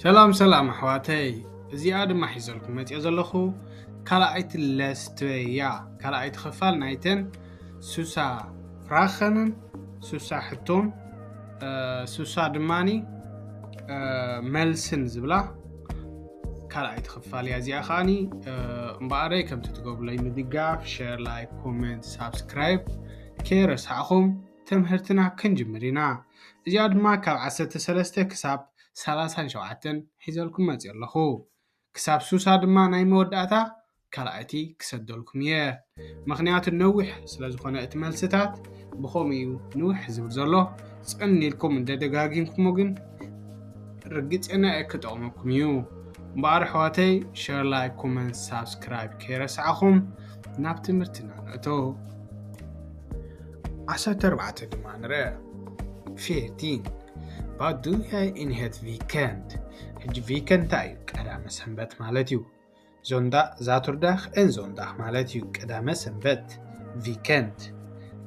ሰላም ሰላም ኣሕዋተይ እዚኣ ድማ ሒዘልኩም መፅኦ ዘለኹ ካልኣይቲ ለስትበያ ካልኣይቲ ክፋል ናይተን ሱሳ ፍራኸንን ሱሳ ሕቶን ሱሳ ድማኒ መልስን ዝብላ ካልኣይቲ ክፋል እያ እዚኣ ከዓኒ እምበኣረይ ከምቲ ትገብሩለይ ምድጋፍ ሸር ላይክ ኮመንት ሳብስክራይብ ከይረሳዕኹም ትምህርትና ክንጅምር ኢና እዚኣ ድማ ካብ ዓሰርተ ሰለስተ ክሳብ ሳላሳን ሸውዓተን ሒዘልኩም መጺእ ኣለኹ ክሳብ ሱሳ ድማ ናይ መወዳእታ ካልኣይቲ ክሰደልኩም እየ ምክንያቱ ነዊሕ ስለ ዝኾነ እቲ መልስታት ብኸምኡ እዩ ንውሕ ዝብል ዘሎ ጽን ኢልኩም እንደደጋጊምኩሞ ግን ርግጽና እየ ክጠቕመኩም እዩ እምበኣር ኣሕዋተይ ሸር ላይ ኮመንት ሳብስክራይብ ከይረስዓኹም ናብ ትምህርትና ንእቶ ዓሰርተ ኣርባዕተ ድማ ንርኣ ፌርቲን Vad du är inhet weekend ሕጂ ቪከንድ እንታይ እዩ ቀዳመ ሰንበት ማለት እዩ ዞንዳ ዛቱርዳኽ ን ዞንዳኽ ማለት እዩ ቀዳመ ሰንበት ቪከንድ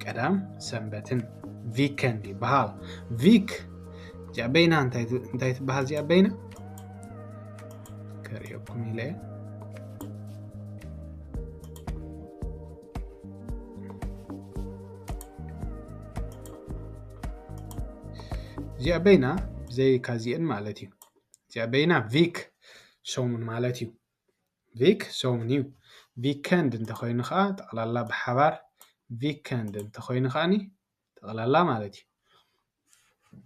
ቀዳም ሰንበትን ቪከንድ ይበሃል ቪክ እዚኣ በይና እንታይ ትበሃል እዚኣ በይና ከርእየኩም ኢለ እዚኣ በይና ብዘይ ካዚኤን ማለት እዩ እዚኣ በይና ቪክ ሰሙን ማለት እዩ ቪክ ሰሙን እዩ ቪከንድ እንተኮይኑ ከዓ ጠቕላላ ብሓባር ቪከንድ እንተኮይኑ ከዓኒ ጠቕላላ ማለት እዩ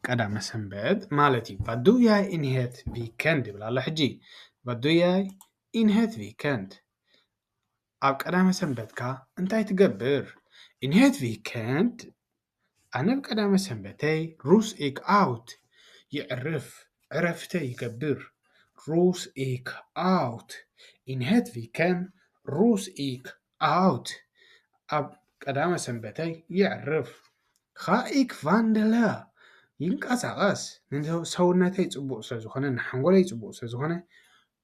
ቀዳመ ሰንበት ማለት እዩ ቫዱያይ ኢንሄት ቪከንድ ይብላ ኣሎ ሕጂ ቫዱያይ ኢንሄት ቪከንድ ኣብ ቀዳመ ሰንበትካ እንታይ ትገብር? In het weekend ኣነ ኣብ ቀዳመ ሰንበተይ ሩስ ኢክ ኣውት የዕርፍ ዕረፍተ ይገብር ሩስ ኢክ ኣውት In het weekend ሩስ ኢክ ኣውት ኣብ ቀዳመ ሰንበተይ የዕርፍ Ga ik wandelen ይንቀሳቐስ ንሰውነተይ ፅቡቕ ስለዝኾነ ንሓንጎለይ ፅቡቕ ስለዝኾነ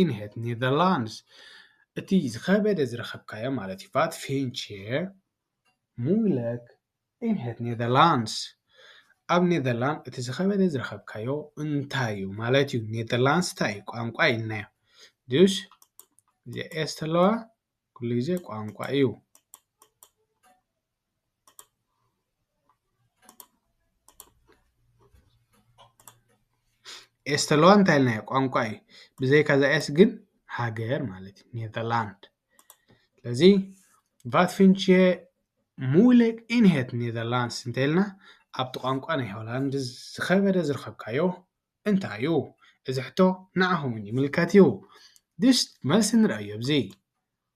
ኢንሄት ኔዘርላንድስ እቲ ዝኸበደ ዝረኸብካዮ ማለት እዩ ቫት ፌንቼር ሙለክ ኢንሄት ኔዘርላንድስ ኣብ ኔዘርላንድ እቲ ዝኸበደ ዝረኸብካዮ እንታይ እዩ ማለት እዩ ኔዘርላንድስ እንታይ እዩ ቋንቋ ኢልናዮ ድስ እዚ ኤስ ተለዋ ኩሉ ግዜ ቋንቋ እዩ ኤስ ተለዋ እንታይ ኢልናዮ ቋንቋ እዩ ብዘይካ እዛ ኤስ ግን ሃገር ማለት እዩ ኔዘርላንድ ስለዚ ቫት ፊንቼ ሙለክ ኢንሄት ኔዘርላንድስ እንተኢልና ኣብቲ ቋንቋ ናይ ሆላንድ ዝኸበደ ዝረኸብካዮ እንታይ እዩ እዚ ሕቶ ንዓኹም እውን ይምልከት እዩ ድስ መልሲ ንርእዮ ኣብዚ።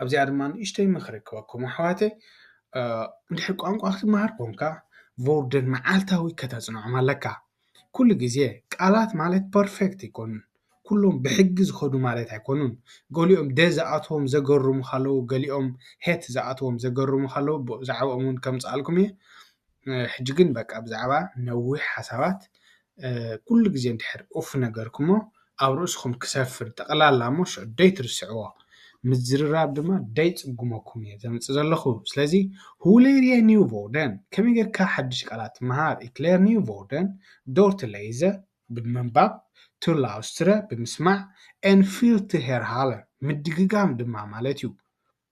ኣብዚኣ ድማ ንእሽተይ ምኽሪ ክበኩም ኣሕዋተይ እንድሕር ቋንቋ ክትመሃር ኮንካ ቮውደን መዓልታዊ ከተፅንዖም ኣለካ ኩሉ ግዜ ቃላት ማለት ፐርፌክት ኣይኮኑን ኩሎም ብሕጊ ዝኸዱ ማለት ኣይኮኑን ገሊኦም ደ ዝኣትዎም ዘገርሙኻ ኣለዉ ገሊኦም ሔት ዝኣትዎም ዘገርሙኻ ኣለዉ ብዛዕብኦም እውን ከምፅኣልኩም እየ። ሕጂ ግን በቃ ብዛዕባ ነዊሕ ሓሳባት ኩሉ ግዜ እንድሕር ኡፍ ነገርኩሞ ኣብ ርእስኹም ክሰፍር ጠቕላላ እሞ ሽዑ ደይትርስዕዎ ምዝርራብ ድማ ደይጽጉመኩም እየ ዘምጽእ ዘለኹ ስለዚ ሁሌርየ ኒውቮርደን ከመይ ጌርካ ሓድሽ ቃላት ትመሃር ኢክሌር ኒውቮርደን ዶርት ለይዘ ብምንባብ ቱርላውስትረ ብምስማዕ ኤን ፊልትሄርሃለን ምድግጋም ድማ ማለት እዩ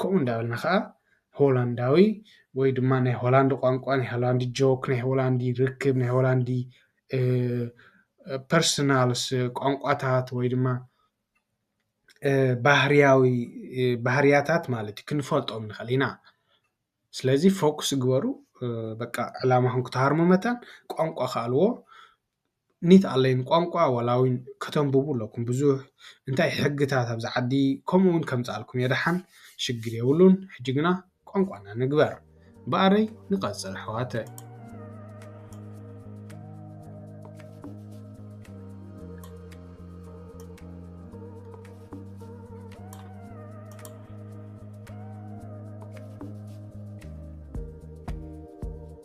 ከምኡ እንዳበልና ከኣ ሆላንዳዊ ወይ ድማ ናይ ሆላንድ ቋንቋ፣ ናይ ሆላንድ ጆክ፣ ናይ ሆላንድ ርክብ፣ ናይ ሆላንድ ፐርሰናልስ ቋንቋታት ወይ ድማ ባህርያዊ ባህርያታት ማለት እዩ ክንፈልጦም ንኽእል ኢና። ስለዚ ፎኩስ ግበሩ በቃ ዕላማኹም ክትሃርሙ መታን ቋንቋ ከኣልዎ። ኒት ኣለይን ቋንቋ ወላዊን ከተንብቡ ኣለኩም ብዙሕ እንታይ ሕግታት ኣብዚ ዓዲ ከምኡ ውን ከምጻልኩም እየ ደሓን ሽግር የብሉን ሕጂ ግና ቋንቋና ንግበር በኣረይ ንቀጽል ኣሕዋተ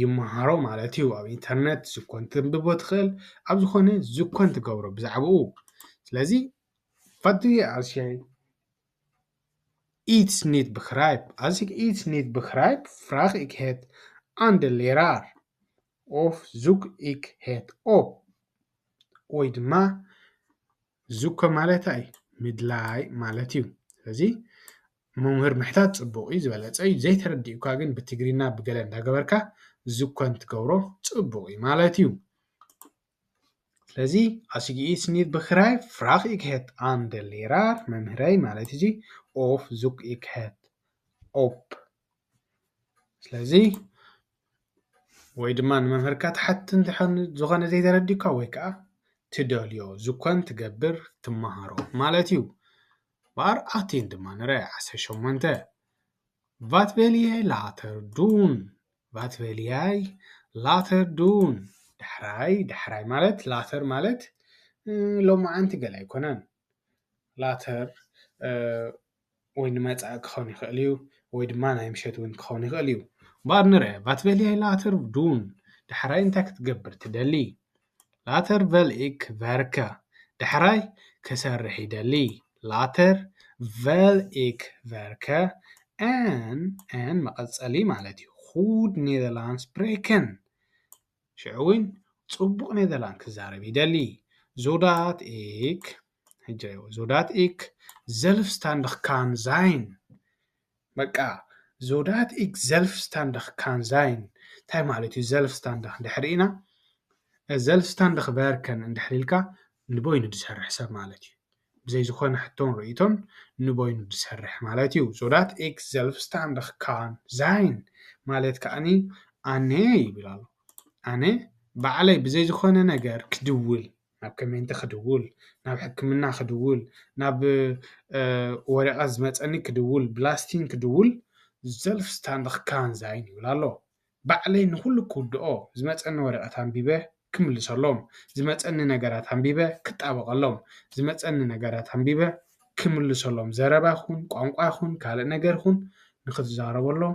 ይመሃሮ ማለት እዩ ኣብ ኢንተርነት ዝኮን ተንብቦ ትክእል ኣብ ዝኮነ ዝኮን ትገብሮ ብዛዕብኡ ስለዚ ፋትየ ኣስያይ ኢት ኒት ብክራይብ ኣዚግ ኢት ኒት ብክራይብ ፍራክ ኢክ ሄት ኣንደ ሌራር ኦፍ ዙግ ኢክ ሄት ኦፕ ወይ ድማ እዚኮ ማለት ኣይ ምድላይ ማለት እዩ ስለዚ መምህር ምሕታት ፅቡቅ እዩ ዝበለፀ እዩ ዘይተረዲኡካ ግን ብትግርይና ብገለ እንዳገበርካ እዚኮ እንትገብሮ ፅቡቅ እዩ ማለት እዩ ስለዚ ኣስጊ ኢት ኒት ብክራይ ፍራክ ኢክሄት ኣንደሌራ መምህረይ ማለት እዚ ኦፍ ዙክ ኢክሄት ኦፕ ስለዚ ወይ ድማ ንመምህርካ ትሓትት እንተኾይኑ ዝኾነ ዘይተረዲኡካ ወይ ክዓ ትደልዮ ዝኮን ትገብር ትምሃሮ ማለት እዩ። ቫር ኣቲን ድማ ንርኣ ዓሰርተ ሸሞንተ ቫት ቨሊየ ላተር ዱን ቫት ቨሊያይ ላተር ዱን ዳሕራይ ዳሕራይ ማለት ላተር ማለት ሎምዓንቲ ገለ ኣይኮነን። ላተር ወይ ንመጻኢ ክኸውን ይኽእል እዩ ወይ ድማ ናይ ምሸት እውን ክኸውን ይኽእል እዩ። Vad nu det vat väljer jag later dun ዳሕራይ እንታይ ክትገብር ትደሊ later väl ik verka ዳሕራይ ክሰርሕ ይደሊ later väl ik verka en en መቐጸሊ ማለት እዩ ኹድ ኔዘርላንድ ስፕሬክን ሽዑ እውን ጽቡቕ ኔዘርላንድ ክዛረብ ይደሊ ዞዳት ik ሕጃዮ ዞዳት ኢክ ዘልፍስታንድኽ ካን ዛይን በቃ ዞዳት ኢክ ዘልፍስታንድኽ ካን ዛይን እንታይ ማለት እዩ ዘልፍስታንድኽ ድሕሪ ኢና ዘልፍስታንድኽ ቨርከን እንድሕሪ ኢልካ ንበይኑ ዝሰርሕ ሰብ ማለት እዩ ብዘይ ዝኾነ ሕቶን ርእይቶን ንበይኑ ዝሰርሕ ማለት እዩ ዞዳት ኤክ ዘልፍስታንድኽ ካን ዛይን ማለት ከዓኒ ኣነ ይብል ኣሎ ኣነ ባዕለይ ብዘይ ዝኾነ ነገር ክድውል ናብ ከመይንተ ክድውል ናብ ሕክምና ክድውል ናብ ወረቀት ዝመጸኒ ክድውል ብላስቲን ክድውል ዘልፍስታንደኽ ካንዛይን ይብል ኣሎ ባዕለይ ንዂሉ ክውድኦ ዝመጸኒ ወረቀት ኣንቢበ ክምልሰሎም ዝመጸኒ ነገራት ኣንቢበ ክጣበቀሎም ዝመጸኒ ነገራት ኣንቢበ ክምልሰሎም ዘረባ ይኹን ቛንቛ ይኹን ካልእ ነገር ይኹን ንኽትዛረበሎም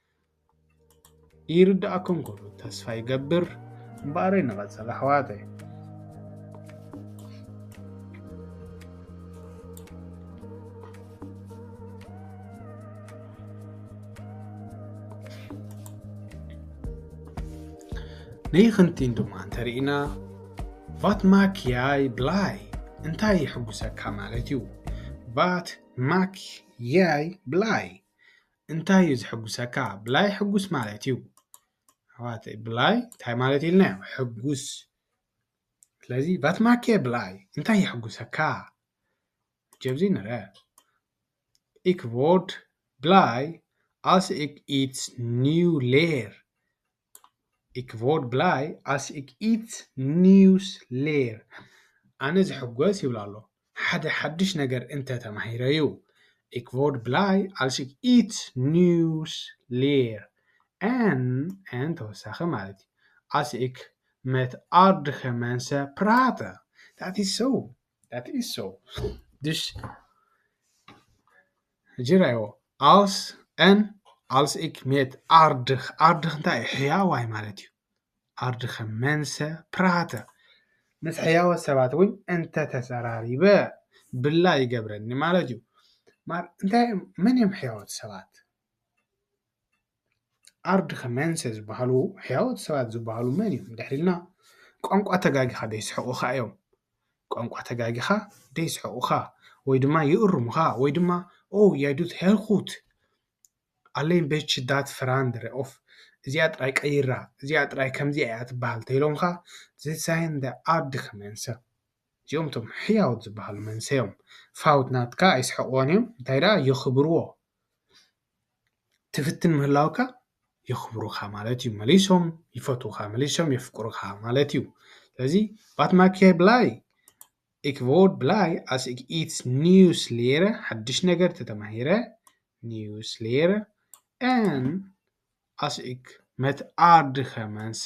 ይርዳኣኩም ክብሉ ተስፋ ይገብር እምበኣረይ ንቐፅል ኣሕዋተይ ንይኽንቲን ድማ እንተርኢና ቫት ማክያይ ብላይ እንታይ ይሕጉሰካ ማለት እዩ ቫት ማክያይ ብላይ እንታይ እዩ ዝሕጉሰካ ብላይ ሕጉስ ማለት እዩ ኣሕዋተይ ብላይ እንታይ ማለት ኢልና እዩ ሕጉስ ስለዚ ቫትማኬ ብላይ እንታይ የሕጉሰካ ጀብዚ ንረ ኢክቮርድ ብላይ ኣስ ኢክ ኢትስ ኒው ሌየር ኢክ ቮርድ ብላይ ኣስ ኢክ ኢት ኒውስ ሌር፣ ኣነ ዝሕጎስ ይብል ኣሎ ሓደ ሓድሽ ነገር እንተ ተማሂረ'ዩ። ኢክ ቮርድ ብላይ ኣስ ኢክ ኢት ኒውስ ሌር፣ ኣን ተወሳኺ ማለት'ዩ፣ ኣስ ኢክ መት ኣርድከ መንሰ ፕራተ፣ ዳት ኢስ ሶው፣ ዳት ኢስ ሶው፣ ድሽ። ሕጂ ርኣይዎ፣ ኣልስ ን ኣልስ ኢክ ሜት ኣርድክ፣ ኣርድክ እንታይ እዩ? ሕያዋይ ማለት እዩ። ኣርድከ መንሰ ፕራተ፣ ምስ ሕያዎት ሰባት እውን እንተ ተጸራሪበ ብላ ይገብረኒ ማለት እዩ። መን እዮም ሕያዎት ሰባት? ኣርድክመንሰ ዝበሃሉ ሕያዎት ሰባት ዝበሃሉ መን እዮም እንድሕር ኢልና ቋንቋ ተጋጊኻ ዶ የስሕቑኻ እዮም? ቋንቋ ተጋጊኻ ዶ የስሕቑኻ ወይ ድማ ይእርሙኻ ወይ ድማ ኦው የ ዱት ሄር ኩት ኣለይን ቤች ዳት ፍራንድ ኦፍ እዚኣ ጥራይ ቀይራ እዚኣ ጥራይ ከምዚኣ እያ ትበሃል እንተኢሎምኻ ዘሳይንደ ኣርድክመንሰ እዚኦም እቶም ሕያዎት ዝበሃሉ መንሰዮም ፋውት ናትካ ኣይስሕቑዎን እዮም እንታይ ደኣ የኽብርዎ። ትፍትን ምህላውካ የኽብሩኻ ማለት እዩ መሊሶም ይፈትዉኻ መሊሶም የፍቅሩኻ ማለት እዩ ስለዚ ባት ማኪያይ ብላይ ኢክቮድ ብላይ ኣስ ኢትስ ኒውስ ሌረ ሓድሽ ነገር ተተማሂረ ኒውስ ሌረ ን ኣስክ መትኣርድኸ መንሰ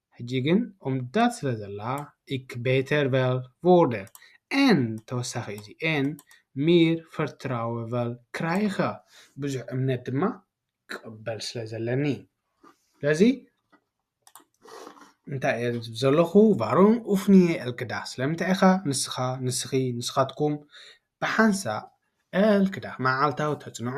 ሕጂ ግን ኦምዳት ስለ ዘላ ኢክ ቤተር ቨል ቮርደር ኤን ተወሳኺ እዚ ኤን ሚር ፈርትራወ ቨል ክራይኸ ብዙሕ እምነት ድማ ይቕበል ስለ ዘለኒ ስለዚ እንታይ እየ ዝብ ዘለኹ ቫሮን ኡፍንየ ኤልክዳ ስለምንታይ ኢኻ ንስኻ ንስኺ ንስኻትኩም ብሓንሳእ ኤልክዳ መዓልታዊ ተጽንዑ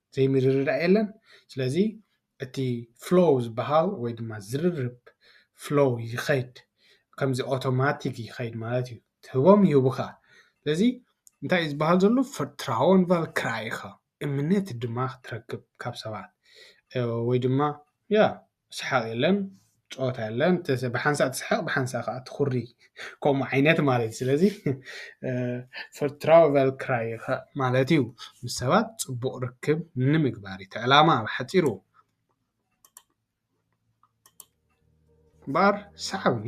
ዘይምርድዳእ የለን ስለዚ እቲ ፍሎው ዝበሃል ወይ ድማ ዝርርብ ፍሎው ይኸይድ ከምዚ ኦቶማቲክ ይኸይድ ማለት እዩ ትህቦም ይህቡኻ ስለዚ እንታይ እዩ ዝበሃል ዘሎ ፍርትራዎን ቫልክራይኻ እምነት ድማ ክትረክብ ካብ ሰባት ወይ ድማ ያ ስሓቕ የለን ጸወታ የለን ብሓንሳእ ትስሕቕ ብሓንሳእ ከዓ ትኹሪ ከምኡ ዓይነት ማለት ስለዚ ፈርትራቨል ክራይ ማለት እዩ ምስ ሰባት ፅቡቕ ርክብ ንምግባር እቲ ዕላማ ኣብ ሓፂሩ እምበኣር ሰዓብኒ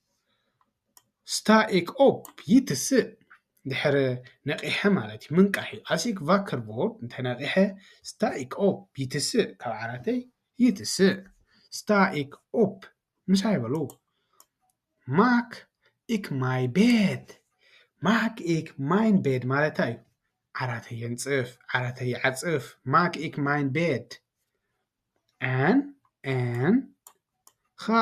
ስታይክ ኦፕ ይትስእ ድሕሪ ነቒሐ ማለት እዩ ምንቃሕ እዩ ኣሲክ ቫከርቦል እንተ ነቒሐ ስታይክ ኦፕ ይትስእ ካብ ዓራተይ ይትስእ ስታይክ ኦፕ ምሳይ በሉ ማክ ኢክ ማይ ቤት ማክ ኢክ ማይ ቤት ማለት እንታይ እዩ ዓራተይ የንጽፍ ዓራተይ ይዓጽፍ ማክ ኢክ ማይ ቤት ን ን ከኣ።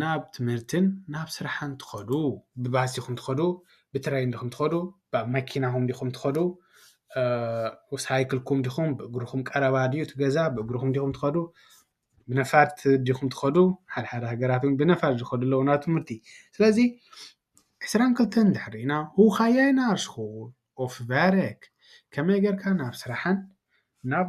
ናብ ትምህርትን ናብ ስራሕን ትኸዱ ብባስ ዲኹም ትኸዱ ብትሬን ዲኹም ትኸዱ ብ መኪናኹም ዲኹም ትኸዱ ሳይክልኩም ዲኹም ብእግርኹም ቀረባ ድዩ እቲ ገዛ ብእግርኹም ዲኹም ትኸዱ ብነፋርት ዲኹም ትኸዱ ሓደ ሓደ ሃገራት ውን ብነፋርት ዝኸዱ ኣለዉ ናብ ትምህርቲ ስለዚ ዕስራን ክልተን እንድሕር ሪኢና ሁ ካይ ያይ ናር ስኹል ኦፍ ቨርክ ከመይ ጌርካ ናብ ስራሕን ናብ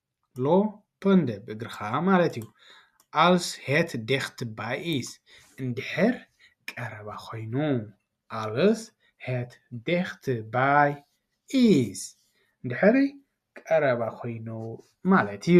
ሎ ፐንደ ብእግርኻ ማለት እዩ። ኣልስ ሄት ዴክት ባይ ኢስ እንድሕር ቀረባ ኮይኑ። ኣልስ ሄት ዴክት ባይ ኢስ እንድሕር ቀረባ ኮይኑ ማለት እዩ።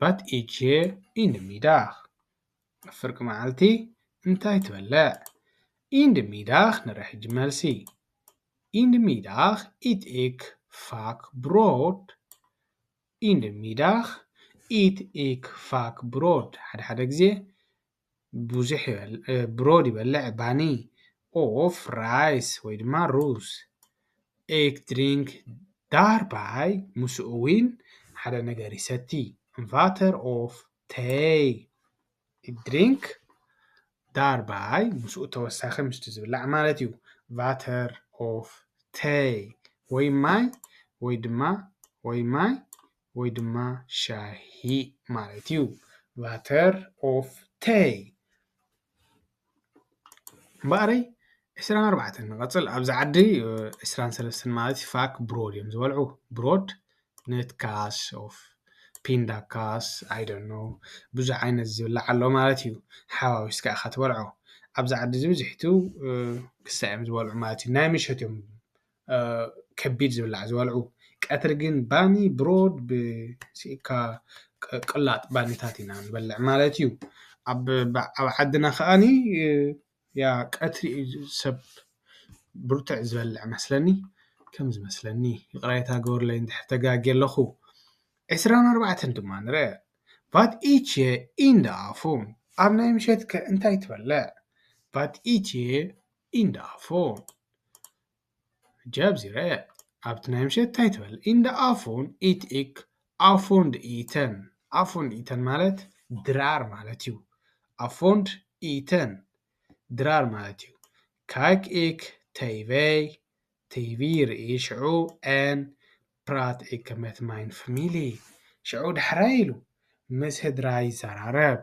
ባት ኢቼ ኢንድ ሚዳኽ ፍርቂ መዓልቲ እንታይ ትበልዕ ኢንድ ሚዳኽ ንረሕጂ መልሲ ኢንድ ሚዳኽ ኢት ኤክ ፋክ ብሮድ ኢንድ ሚዳኽ ኢት ኤክ ፋክ ብሮድ ሓድሓደ ግዜ ብዙሕ ይበልዕ ብሮድ ይበልዕ ባኒ ኦፍ ራይስ ወይ ድማ ሩዝ ኤግ ድሪንክ ዳርባይ ምስኡ ውን ሓደ ነገር ይሰቲ ኢንቫተር ኦፍ ተይ ድሪንክ ዳርባይ ምስኡ ተወሳኺ ምስቲ ዝብላዕ ማለት እዩ ቫተር ኦፍ ተይ ወይ ማይ ወይ ድማ ወይ ማይ ወይ ድማ ሻሂ ማለት እዩ። Water of Tea። እምበኣረይ ዕስራን ኣርባዕተን ንቐጽል ኣብዚ ዓዲ ዕስራን ሰለስተን ማለት እዩ ፋክ ብሮድ እዮም ዝበልዑ ብሮድ ንትካስ ኦፍ ፒንዳካስ ኣይደኖ ብዙሕ ዓይነት ዝብላዕ ኣሎ ማለት እዩ ሓዋዊስካ ኢኻ ትበልዖ ኣብዚ ዓዲ እዚ ብዝሕቱ ክሳዕ እዮም ዝበልዑ ማለት እዩ ናይ ምሸት እዮም ከቢድ ዝብላዕ ዝበልዑ ቀትሪ ግን ባኒ ብሮድ ብሲኢካ ቅላጥ ባኒታት ኢና ንበልዕ ማለት እዩ ኣብ ኣብ ዓድና ከኣኒ ያ ቀትሪ እዩ ሰብ ብርትዕ ዝበልዕ መስለኒ ከም ዝመስለኒ ይቅሬታ ግበሩለይ እንድሕር ተጋግየ ኣለኩ ዕስራን ኣርባዕተን ድማ ንርኣ ቫት ኢቼ ኢንዳ ኣፎም ኣብ ናይ ምሸትከ እንታይ ትበልዕ ቫት ኢቼ ኢንዳ ኣፎም። ሕጂ ኣብዚ ረኣያ ኣብቲ ናይ ምሸት ታይ ትበል ኢን ደ ኣፎን ኢት ኢክ ኣፎንድ ኢተን ኣፎንድ ኢተን ማለት ድራር ማለት እዩ ኣፎንድ ኢተን ድራር ማለት እዩ ካክ ኢክ ተይቨይ ተይቪ ሪኢ ሽዑ ን ፕራት ኢክ መት ማይን ፍሚሊ ሽዑ ዳሕራይ ኢሉ ምስ ህድራ ይዛራረብ።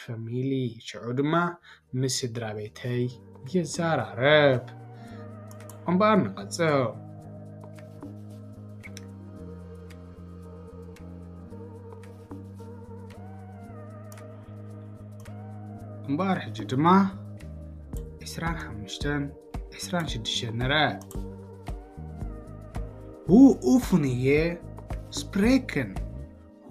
ፋሚሊ ሽዑ ድማ ምስ ስድራቤተይ ይዛራረብ እምበኣር ንቐጽል። እምበኣር ሕጂ ድማ ዕስራን ሓሙሽተን ዕስራን ሽዱሽተን ንርኣ ሁ ኡፍንየ ስፕሬክን ሁ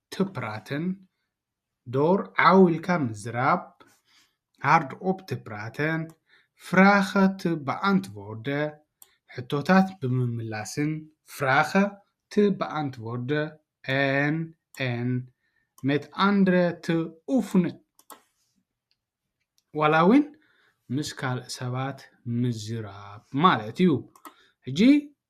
ትፕራተን ዶር ዓው ኢልካ ምዝራብ፣ ሃርድ ኦፕ ትፕራተን ፍራኸ ት በኣንትቮርደ፣ ሕቶታት ብምምላስን ፍራኸ ት በኣንትቮርደ ን ን ሜት ኣንድረ ት ኡፍነ ዋላ እውን ምስ ካልእ ሰባት ምዝራብ ማለት እዩ። ሕጂ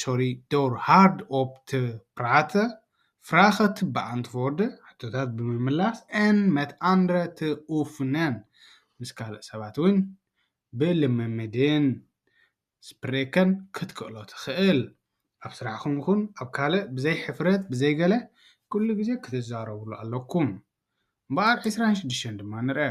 ሶሪ ዶር ሃርድ ኦፕት ፕራተ ፍራኸት ብኣንትዎርደ ሕቶታት ብምምላስ ን መት ኣንድረ ት ኡፍነን ምስ ካልእ ሰባት እውን ብልምምድን ስፕሬከን ክትክእሎ ትኽእል ኣብ ስራሕኹም ይኹን ኣብ ካልእ ብዘይ ሕፍረት ብዘይ ገለ ኩሉ ግዜ ክትዛረብሉ ኣለኩም እምበኣር ዕስራን ሽዱሽተን ድማ ንርኣ።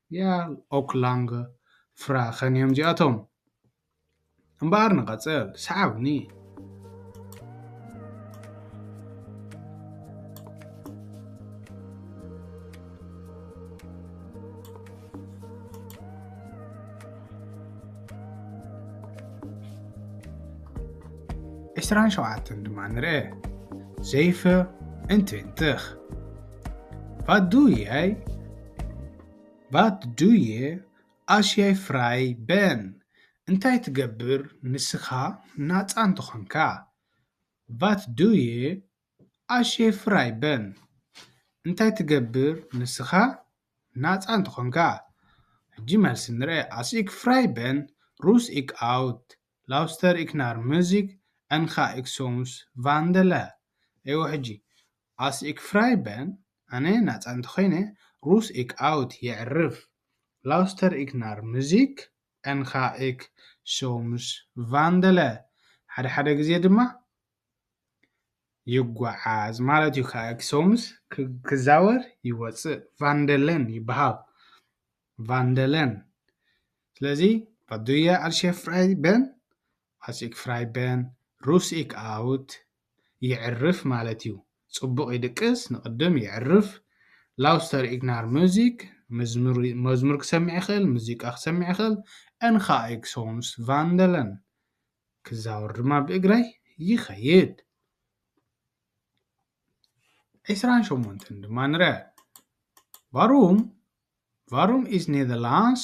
ያል ኦክ ላንገ ፍራኸን እዮም እዚኣቶም። እምበኣር ንቐጽል፣ ሰዓብኒ። ዕስራን ሸውዓተን ድማ ንርኤ። ዘይፈ እንት እንትኽ Vad du är? Vad du är? ኣሽ ያይ ፍራይ በን እንታይ ትገብር ንስኻ ናጻ እንተኾንካ Vad du är? ኣሽ ያይ ፍራይ በን እንታይ ትገብር ንስኻ ናጻ እንተኾንካ ሕጂ መልሲ ንርኣ ኣስ ኢክ ፍራይ በን ሩስ ኢክ ኣውት ላውስተር ኢክ ናር ሙዚክ እንካ ኢክ ሶምስ ቫንደለ እወ ሕጂ ኣስ ኢክ ፍራይ በን፣ ኣነ ናጻ እንተ ዀይነ፣ ሩስ ኢክ ኣውት የዕርፍ፣ ላውስተር ኢክ ናር ሙዚክ፣ ኣን ካ ኢክ ሶምስ ቫንደለ፣ ሓደ ሓደ ግዜ ድማ ይጓዓዝ ማለት እዩ፣ ካ ኢክ ሶምስ ክዛወር ይወጽእ፣ ቫንደለን ይብሃል፣ ቫንደለን። ስለዚ ቫት ዱ የ ኣልሸ ፍራይ በን? ኣስ ኢክ ፍራይ በን፣ ሩስ ኢክ ኣውት የዕርፍ ማለት እዩ ጽቡቅ ይድቅስ ንቅድም የዕርፍ ላውስተር ኢግናር ሙዚክ መዝሙር ክሰምዕ ይክእል ሙዚቃ ክሰምዕ ይክእል እንካ ኤግሶንስ ቫንደለን ክዛወር ድማ ብእግረይ ይከይድ ዒስራን ሸሞንተን ድማ ንረ ቫሩም ቫሩም ኢዝ ኔዘርላንድስ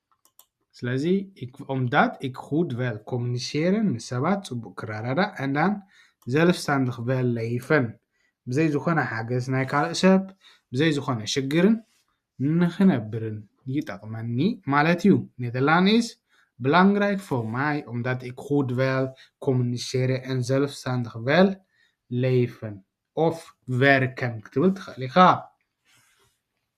ስለዚ ኦምዳት ኢክ ሁድ ቨል ኮሚኒሴርን ምስ ሰባት ጽቡቕ ክረዳዳእ ኣንዳን ዘልፍሳንድኽ ቨል ለይፈን ብዘይ ዝኾነ ሓገዝ ናይ ካልእ ሰብ ብዘይ ዝኾነ ሽግርን ንኽነብርን ይጠቕመኒ ማለት እዩ። ኔደርላንድ ኢዝ ብላንግራይክ ፎር ማይ ኦምዳት ኢክ ሁድ ቨል ኮሚኒሴረ ኣን ዘልፍሳንድኽ ቨል ለይፈን ኦፍ ቨርከን ክትብል ትኽእል ኢኻ።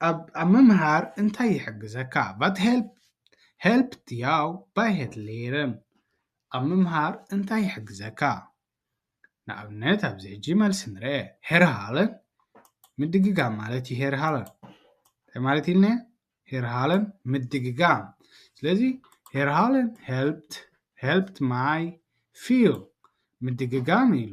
ኣብ ምምሃር እንታይ ይሕግዘካ? ቫት ሄልፕት ያው ባይሄት ሌርን ኣብ ምምሃር እንታይ ይሕግዘካ? ንኣብነት ኣብዚ ሕጂ መልሲ ንርኣ ሄርሃለን ምድግጋም ማለት እዩ ሄርሃለን እንታይ ማለት ኢልና ሄርሃለን ምድግጋም ስለዚ ሄርሃለን ሄልፕት ማይ ፊል ምድግጋም ኢሉ።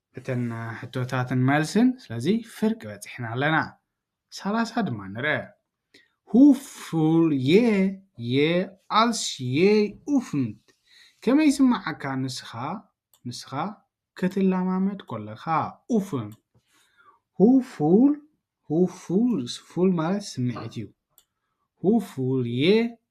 እተን ሕቶታትን መልስን ስለዚ ፍርቂ በጺሕና ኣለና። ሰላሳ ድማ ንርኣ። Huful ye ye als je oefent ከመይ ይስምዓካ ንስኻ ንስኻ ክትለማመድ ኮለኻ Oefen Huful Huful ፉል ማለት ስምዒት እዩ። Huful ye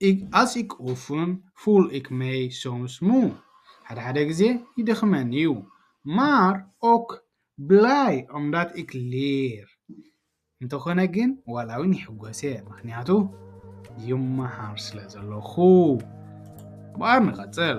ኢግ ኣስ ኢክ ኡፍን ፉል ኢክ መይ ሶምስ ሙ፣ ሓደ ሓደ ግዜ ይደኽመኒ እዩ፣ ማር ኦክ ብላይ ኦምዳት ኢክ ሌር፣ እንተኾነ ግን ዋላ ውን ይሕጎስ እየ ምኽንያቱ ይመሃር ስለ ዘለኹ። ምበኣር ንቐጽል።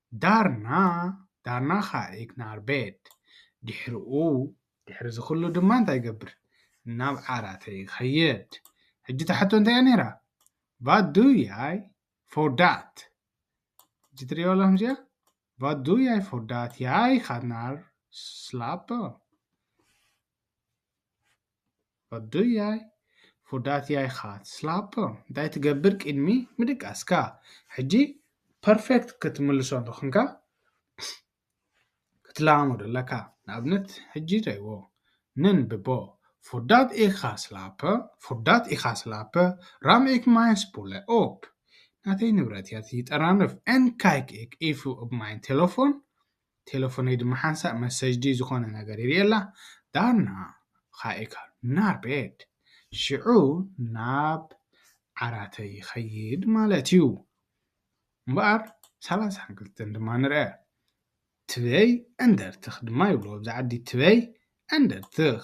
ዳርና ዳርና ከኣ ኢግናር ቤት። ድሕርኡ ድሕሪዚ ኩሉ ድማ እንታይ እገብር? ናብ ዓራተይ እኸይድ። ሕጂ እታ ሕቶ እንታይ እያ ነይራ? ቫት ዱ ያይ ፎር ዳት? ሕጂ ትርእይዋ ኣለኹም እዚኣ? ቫት ዱ ያይ ፎር ዳት ያይ ጋት ናር ስላፐ። ኣዱያይ ፉዳትያ ኢኻ ትስላቦ እንታይ ትገብር ቅድሚ ምድቃስካ ሕጂ ፐርፌክት ክትምልሶ እንተኾንካ ክትለማመዶ ኣለካ ንኣብነት ሕጂ ሪእዎ ነንብቦ ፉዳት ኢኻ ስላፐ ፉዳት ኢኻ ስላፐ ራምኢክ ማይንስ ቡለ ኦፕ ናተይ ንብረት እያ ትይጠራንፍ ኤንካይክ ኢክ ኢፉ ኦብ ማይን ቴለፎን ቴለፎነይ ድማ ሓንሳእ መሰጅ ድዩ ዝኾነ ነገር ይርእየላ፣ ዳርና ኻኢካ ናብ ቤት፣ ሽዑ ናብ ዓራተይ ይኸይድ ማለት እዩ። እምበኣር ሰላሳን ክልተን ድማ ንርኣ። ትበይ ዕንደርትኽ ድማ ይብልዎ ኣብዚ ዓዲ፣ ትበይ ዕንደርትኽ።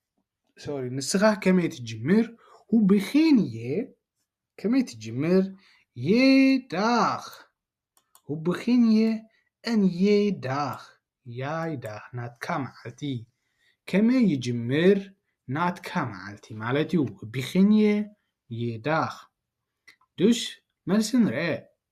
ሶሪ ንስኻ ከመይ ትጅምር ሁብኺን እየ ከመይ ትጅምር የዳኽ ሁብኺን እየ እን የዳኽ ያይዳኽ ናትካ መዓልቲ ከመይ ይጅምር ናትካ መዓልቲ ማለት እዩ ሁብኺን እየ የዳኽ ዱሽ መልሲ ንርአ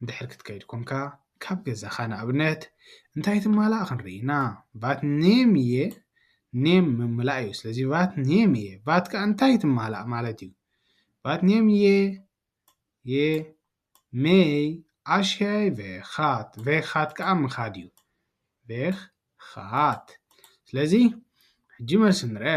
እንድሕር ክትከይድ ኮንካ ካብ ገዛኻ ንኣብነት እንታይ ትማላእ ክንርኢ ኢና ቫት ኔም እየ ኔም ምምላእ እዩ ስለዚ ቫት ኔም እየ ቫት ከ እንታይ ትማላእ ማለት እዩ ቫት ኔም እየ የ ሜይ ኣሽያይ ቬኻት ቬኻት ከዓ ምኻድ እዩ ቬኻት ስለዚ ሕጂ መልሲ ንርአ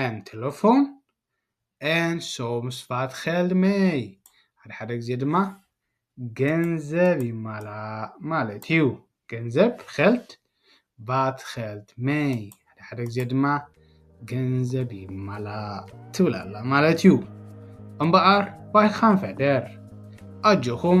ኣን ቴለፎን ኣን ሶምስ ፋትኼልድ መይ ሓደ ሓደ ግዜ ድማ ገንዘብ ይማላእ ማለት እዩ ገንዘብ ኸልድ ቫትኼልድ መይ ሓደ ሓደ ግዜ ድማ ገንዘብ ይማላእ ትብል ኣላ ማለት እዩ እምበኣር ባይኻን ፈደር ኣጆኹም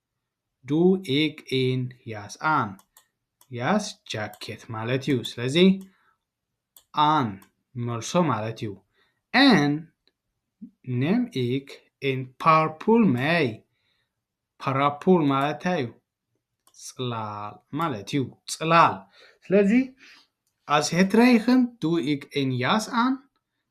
ዱ ኢግ ኢን ያስ ኣን ያስ ጃኬት ማለት እዩ ስለዚ ኣን መልሶ ማለት እዩ ን ኔም ኢግ ኢን ፓርፑል መይ ፓራፑል ማለት እንታይ እዩ ፅላል ማለት እዩ ፅላል ስለዚ ኣስ ሄትረይኽን ዱ ኢግ ኢን ያስ ኣን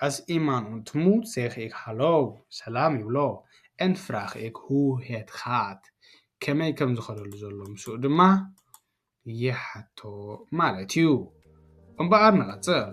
ኣስኢማን ኡንት ሙት ዜክ ኤክ ሃሎው ሰላም ይብሎ፣ ኤንት ፍራክ ኤክ ሁ ሄት ጋት፣ ከመይ ከም ዝኸደሉ ዘሎ ምስኡ ድማ ይሓቶ ማለት እዩ። እምበኣር ንቐጽል።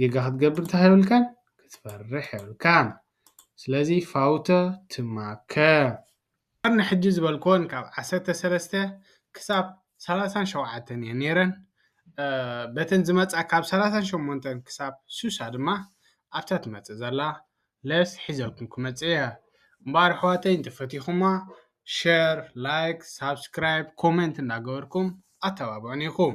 ጌጋ ክትገብር እንታይ የብልካን ክትፈርሕ የብልካን ስለዚ ፋውተ ትማከ። እምበር ንሕጂ ዝበልክወን ካብ ዓሰርተ ሰለስተ ክሳብ ሰላሳን ሸውዓተን እየን ነይረን በተን ዝመጻ ካብ ሰላሳን ሸሞንተን ክሳብ ስሳ ድማ ኣብታ ትመጽእ ዘላ ለስ ሒዘልኩም ክመጽእ እየ እምበኣር ኣሕዋተይ እንተፈቲኹማ ሸር ላይክ ሳብስክራይብ ኮመንት እንዳገበርኩም ኣተባብዑኒ ኢኹም